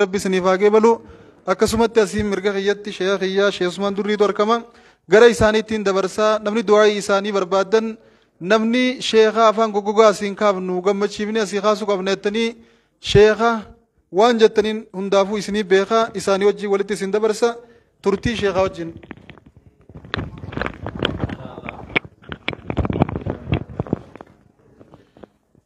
rabbi isiniif haa qeebalu akkasumatti asiin mirga kiyyatti sheeka kiyyaa sheek usmaan durriitu argama gara isaaniittiin dabarsaa namni du'aa'ii isaanii barbaadan namni sheeka afaan goggogaa asiin kaafnu gammachiifni asii kaasuu qabna jettanii sheeka waan jettaniin hundaafuu isinii beeka isaanii wajjin walitti isin dabarsa turtii sheekaa wajjin.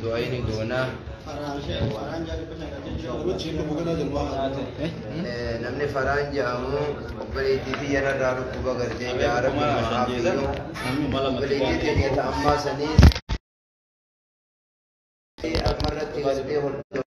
Du'aayini goonaa. Namni faraan jedhamu obboleettii fi yararraa dhukkuba gartee jaara gumaa fiyyoo obboleettii keenya ta ammaa saniis ammarratti gartee hordofaa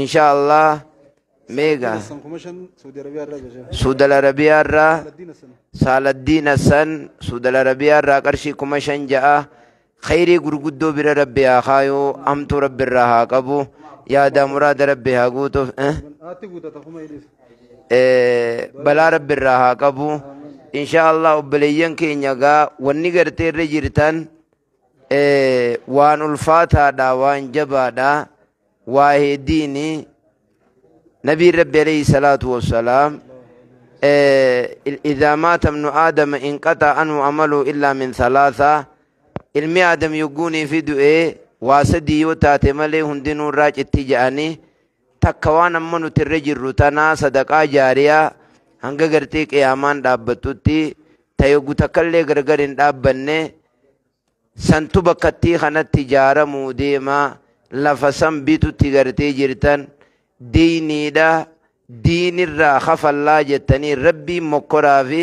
insha allah meega suudal arabiyaa irraa saaladdiin hassan suudal arabiyaa irraa qarshii kuma shan ja'a khayrii gurguddoo bira rabbi haa kaayuu hamtuu rabbi irraa haa qabu yaadaa muraada rabbi haa guutuuf eh? Eh, balaa rabbi irraa haa qabu insha allah obboleeyyan keenya gaa wanni gartee irra jirtan Eh, waan ulfaataadha waan jabaadha waa'ee diini nabiin rabbi alayhi salaatu wassalaam eh, il- idaa maata ibnu aadama inqaxa anhu amalu illaa min thalaatha ilmi aadam yogguunii fi du'ee waa sadii yoo taate malee hundinuu irraa citti ja'anii takka waan amma nuti irra jirru tanaa sadaqaa jaariyaa hanga gartee qiyaamaan dhaabbattutti tayogu takkallee gargar hin dhaabbanne santu bakkattii kanatti jaaramuu deema lafa san bitutti gartee jirtan diiniidha diinirraa kafallaa jettanii rabbiin mokkoraa fi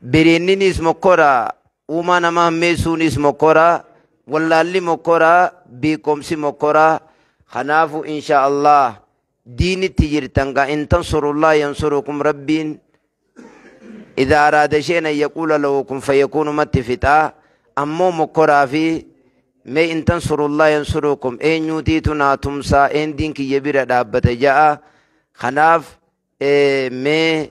Biriinninis mokkora, uumaa namaa hammeessuunis mokkora, wallaalli mokkora, beekomsi mokkora. Kanaafu insha Allah diinitti jirtan gaa in tansurullah yansurukum rabbiin idha araada shay'an an yaquula lahu kun fayakuunumatti fixaa ammoo mokkoraa fi mee in tansurullah yansurukum eenyuutiitu naa tumsaa een diin kiyya bira dhaabbata ja'a kanaaf mee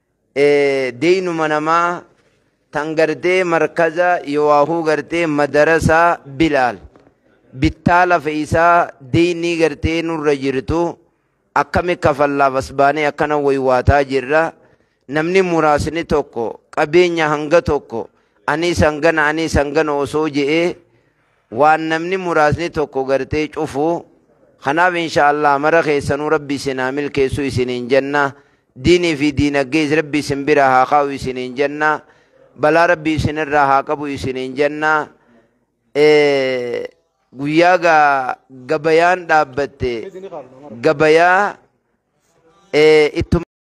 deynuma namaa tan gartee markaza yowaahuu gartee madarasaa bilaal bittaa lafa isaa deynii gartee nurra jirtu akkami kafallaaf as baanee akkana waywaataa jirra namni muraasni tokko qabeenya hanga tokko aniis hangana aniis hangana osoo je'ee waan namni muraasni tokko gartee cufu kanaaf insha Allah mara keessanuu rabbi isin haa milkeessu isiniin jenna diinii fi diinaggees rabbi isin bira haa kaa'u isiniin jenna balaa rabbi isinirraa haa qabu isiniin jenna Eh, guyyaa gaa gabayaan dhaabbatte gabayaa eh, ittuma